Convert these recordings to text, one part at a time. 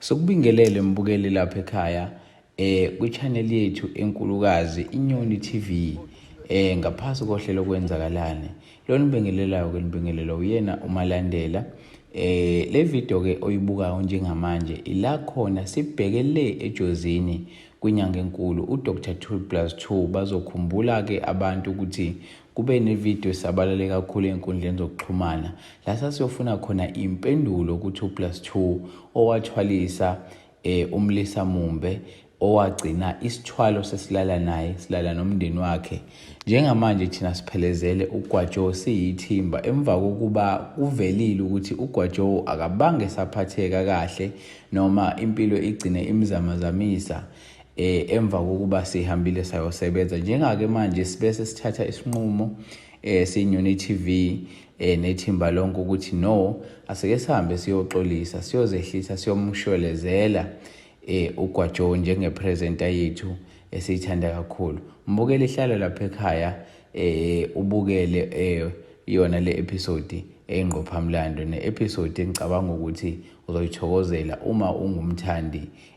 Sokubingelele mbukeli lapha ekhaya eh kwichannel yethu enkulukazi iNyoni TV eh ngaphasi kohlelo kwenzakalani lo nibingelelayo ke nibingelela uyena umalandela eh le video ke oyibukayo njengamanje ila khona sibheke le ejozini kwinyanga enkulu uDr Tool plus 2 bazokhumbula ke abantu ukuthi Kube nevidiyo esabalale kakhulu ey'nkundleni zokuxhumana la sasiyofuna khona impendulo ku-2 plus 2 owathwalisa um umlisa mumbe owagcina isithwalo sesilala naye silala nomndeni wakhe njengamanje thina siphelezele ugwajo siyithimba emva kokuba kuvelile ukuthi ugwajo akabange saphatheka kahle noma impilo igcine imzamazamisa eh emva kokuba sihambile sayosebenza njengake manje sibese sithatha isinqumo eh sinyuni TV eh nethimba lonke ukuthi no asike sihambe siyoxolisa siyozehlisa siyomshwelezela eh uGwajo njengepresenter yethu esiyithanda kakhulu mbukele ihlalo lapha ekhaya eh ubukele eh yona le episode eyingqophamlando ne-episode engicabanga ukuthi uzoyithokozela uma ungumthandi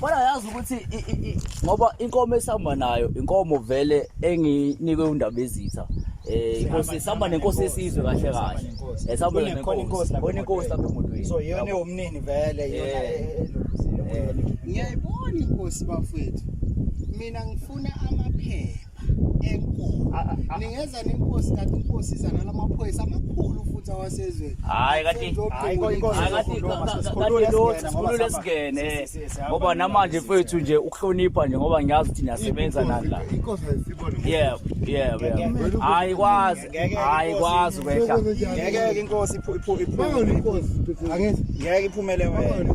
Kodwa yazi ukuthi ngoba inkomo esihamba nayo inkomo vele enginikwe undaba ezitha eh inkosi sihamba nenkosi yesizwe kahle kahle esihamba eh, nenkosi inkosi lapha emotweni so yona ewumnini vele yona eh. Eh, ngiyayibona inkosi bafethu mina ngifuna amaphepha enkulu ningeza nenkosi kanti inkosi iza nalamaphoyisa amakhulu futhi awasezweni hayi kanti sikhulule esigene ngoba namanje mfethu nje ukuhlonipha nje ngoba ngiyazi ukuthi niyasebenza nani la yebo yebo yebo hayi kwazi hayi kwazi kwehla ngeke inkosi iphumele ngeke iphumele wena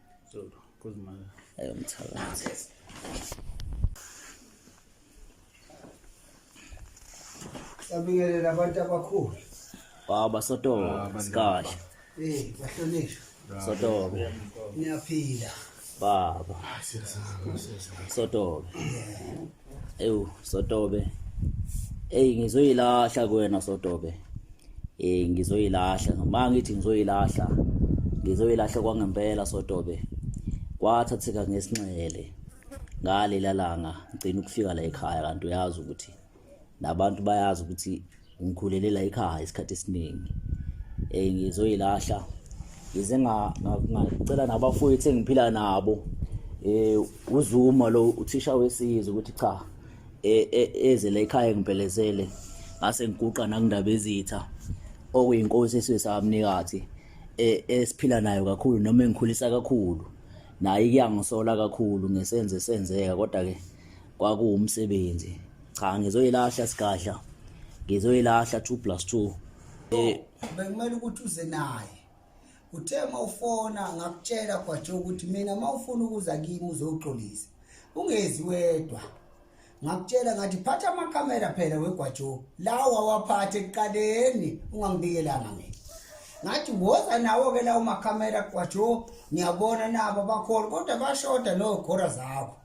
Sabingelela abantu abakhulu. Baba Sotobe, ah, sikahle. Eh, bahlonishwa. Sotobe. Niyaphila. Baba. Ah, Sotobe. ewu sotobe eyi ngizoyilahla kuwena sotobe eh ngizoyilahla uma ngithi ngizoyilahla ngizoyilahla kwangempela sotobe kwathatheka ngesinxele ngalela langa ngicina ukufika la ekhaya kanti uyazi ukuthi nabantu bayazi ukuthi ngikhulele la ekhaya isikhathi esiningi eh ngizoyilahla ngize ngacela nabafowethu engiphila nabo eh uzuma lo uthisha wesizwe ukuthi cha e, e, eze la ekhaya ngibhelezele ngase ngiguqa nakundaba ezitha okuyinkosi esizwe samnikathi e, esiphila nayo kakhulu noma engikhulisa kakhulu naye kuyangisola kakhulu ngesenze senzeka kodwa ke kwakuwumsebenzi cha ngizoyilahla sigadla ngizoyilahla 2 plus 2 eh bekumele ukuthi uze naye uthe mawufona ngakutshela kwaje ukuthi mina mawufuna ukuza kimi uzoxolisa ungezi wedwa ngakutshela ngathi phatha amakhamera phela wegwajo lawa waphathe ekuqaleni ungangibikelanga mina ngathi woza nawo ke lawo makhamera kwajo ngiyabona nabo bakhona kodwa bashoda no gora zakho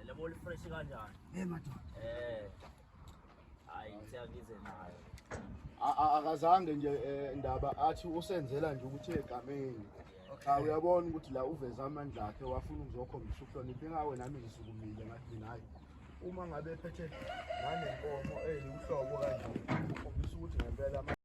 Alam mo, fresh ka dyan. Eh, mato. Eh. Ay, siya gizin na. akazange nje eh, ndaba athi usenzela nje ukuthi egameni cha uyabona ukuthi la uveze amandla akhe wafuna ukuzokhombisa ukuhlonipha ingawe nami ngisukumile ngathi mina hayi uma ngabe ephethe nanenkomo eyiwuhlobo kanje ukhombisa ukuthi ngempela